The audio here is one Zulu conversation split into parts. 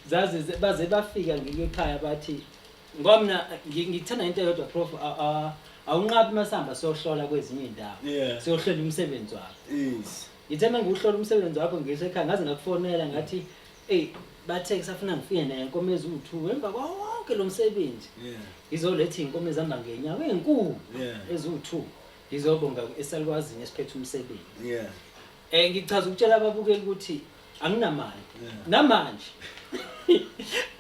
zaze ze- baze bafika ngike ekhaya bathi ngoba mina ngi- ngithanda into eyodwa prof a- a- awunqabi uma sihamba siyohlola kwezinye iy'ndawo Yeah. siyohlola umsebenzi wakho Yes. ngithe uma ngiwuhlola umsebenzi wakho ngisho ekhaya ngaze ngakufonela ngathi eyi bathe kusafuna ngifike naye nkomo eziwu-two emva kwawo wonke lo msebenzi Yeah. ngizoletha iy'nkomo ezihamba ngenyawo ey'nkulu Yeah. eziwu-two ngizobonga esalukwazini esiphethe umsebenzi Yeah. Eh ngichaza ukutshela ababukeli ukuthi anginamali. Namanje.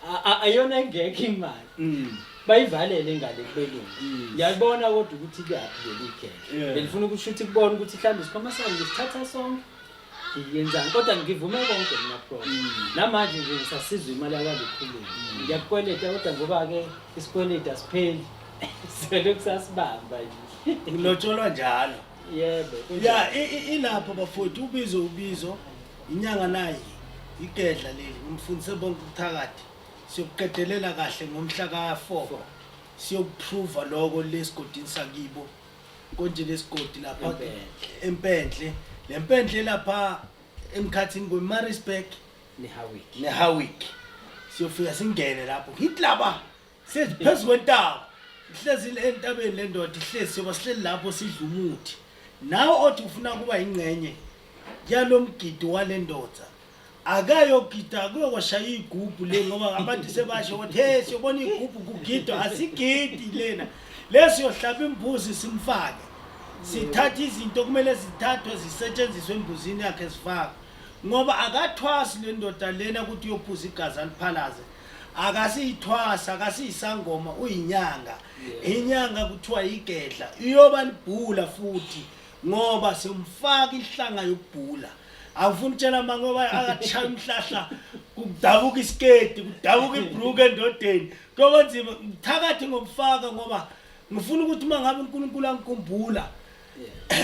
A- a- Ayona engekho imali. Mm. Bayivalele ingane kubelungu. Mm. Ngiyabona kodwa ukuthi kuyaphi leli geke. Yeah. Belifuna ukuthi shuthi kubona ukuthi mhlawumbe isikhwama sami ngisithatha sonke. Ngiyenzani kodwa ngivume konke mina pro. Mm. Namanje nje ngisasizwa imali yakwazikhuluma. Ngiyakukweleta kodwa ngoba ke isikweleta sipheli. Sele kusasibamba nje. Ulotsholwa njalo. yebo kunjalo. ya i- i- ilapho bafowethu ubizo ubizo inyanga naye igedla leli ngimfundise bonke ubuthakathi siyokuqedelela kahle ngomhla ka-four siyokuphruva loko lesigodini sakibo konje lesigodi lapha Empendle. empendle le mpendle lapha emkhathini kwemarisburg nehawiki nehawiki siyofika singene lapho ngithi laba Sithi phezu kwentaba. Ihlezi le entabeni le ndoda ihlezi soba sihleli lapho sidla umuthi. Nawe othi ufuna kuba ingcenye yalo mgidi wale ndoda. Akayogida kuyokwashaya igubhu le ngoba abantu sebasho ukuthi hey siyobona igubhu kugidwa asigidi lena. Lesi yohlaba imbuzi simfake. Sithatha izinto kumele zithathwe zisetshenziswe embuzini yakhe zifakwe. Ngoba akathwasi le ndoda lena ukuthi uyophuza igazi aliphalaze. akasiyithwasa akasiyisangoma uyinyanga inyanga kuthiwa igedla iyoba libhula futhi ngoba somfaka ihlanga yokubhula awufuni tshela mama ngoba akachaya umhlahla kudabuka isiketi kudabuka ibrook endodeni kuyoba nzima ngithakathi ngokufaka ngoba ngifuna ukuthi uma ngabe uNkulunkulu angikhumbula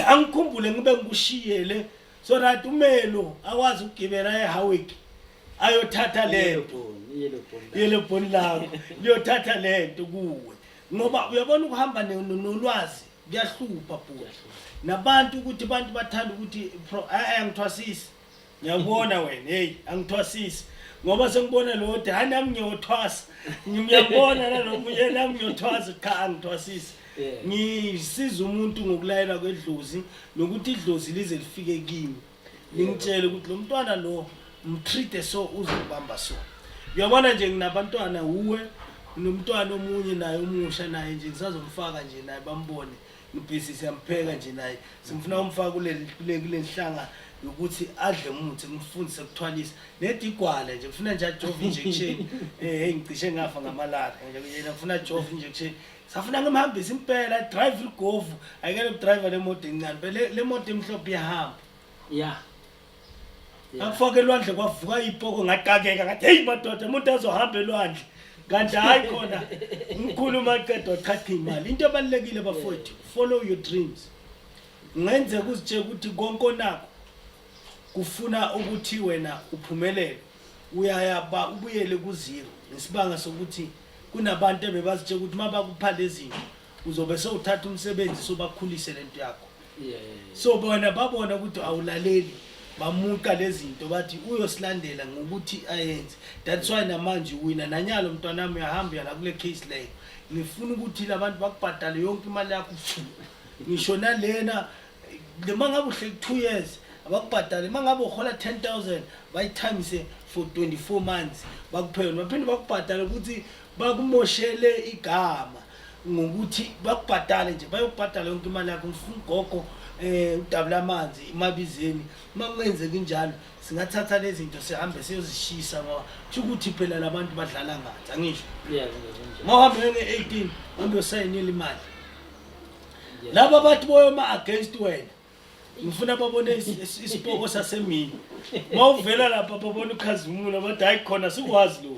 angikhumbule ngibe ngikushiyele so that umelo akwazi ukugibela eHowick ayothatha lento yelebhoni lakho liyothatha lento kuwe ngoba uyabona ukuhamba nolwazi kuyahlupha bhuti nabantu ukuthi abantu bathanda ukuthi eh, angithwasisi ngiyakubona wena heyi angithwasisi ngoba sengibona lo de hayi nami ngiyothwasa ngiyabona nalomunye nami ngiyothwasa cha angithwasisi ngisiza umuntu ngokulayela kwedlozi nokuthi idlozi lize lifike kimi ngimtshele ukuthi lo mntwana lo mtreat so uzobamba so uyabona nje nginabantwana uwe nomntwana omunye naye omusha naye nje ngisazomfaka nje naye bambone ngibhizi siyampheka nje naye simfuna umfaka kulenhlanga yokuthi adle umuthi ngimfundise kuthwalisa nedigwala nje ngifuna nje ajove injection eh hey ngicishe ngafa ngamalari nje ngifuna ajove injection safuna ngimhambise impela drive ligovu ayikele ukudrive le moto encane bele le moto emhlophe iyahamba ya ngakufaka elwandle kwavuka ipoko ngatakeka ngathi heyi madoda umuntu azohamba elwandle kanti hhayi khona umkhulu umaqeda waqhaqha imali into ebalulekile bafowethu follow your dreams ngenzeka uzitshela ukuthi konke onakho kufuna ukuthi wena uphumelele uyaya ba ubuyele ku zero ngesibanga sokuthi kunabantu ebebazitshela ukuthi uma bakupha lezinto uzobe sewuthatha umsebenzi sobakhulise lento yakho so bona babona ukuthi awulaleli bamuqa lezinto bathi uyosilandela ngokuthi ayenze that's why namanje uwina nanyalo mntwana wami uyahamba uyala kule case leyo ngifuna ukuthi labantu bakubhadale yonke imali yakho ngisho nalena noma ngabe uhleli two years abakubhadale uma ngabe uhola 10000 bayitimise for 24 months bakuphele baphinde bakubhadale ukuthi bakumoshele igama ngokuthi bakubhadale nje bayokubhadala yonke imali yakho ngifuna ugogo eh udabula amanzi imabizeni uma kungenzeki njalo singathatha lezi zinto sihambe siyozishisa ngoba kusho ukuthi phela labantu badlala ngathi angisho uma uhambe nge-18 uhambe usayinile imali laba abathi boyoma against wena ngifuna babone isipoko sasemini mawuvela lapha babona ukhazimula bathi hayi khona sikwazi lo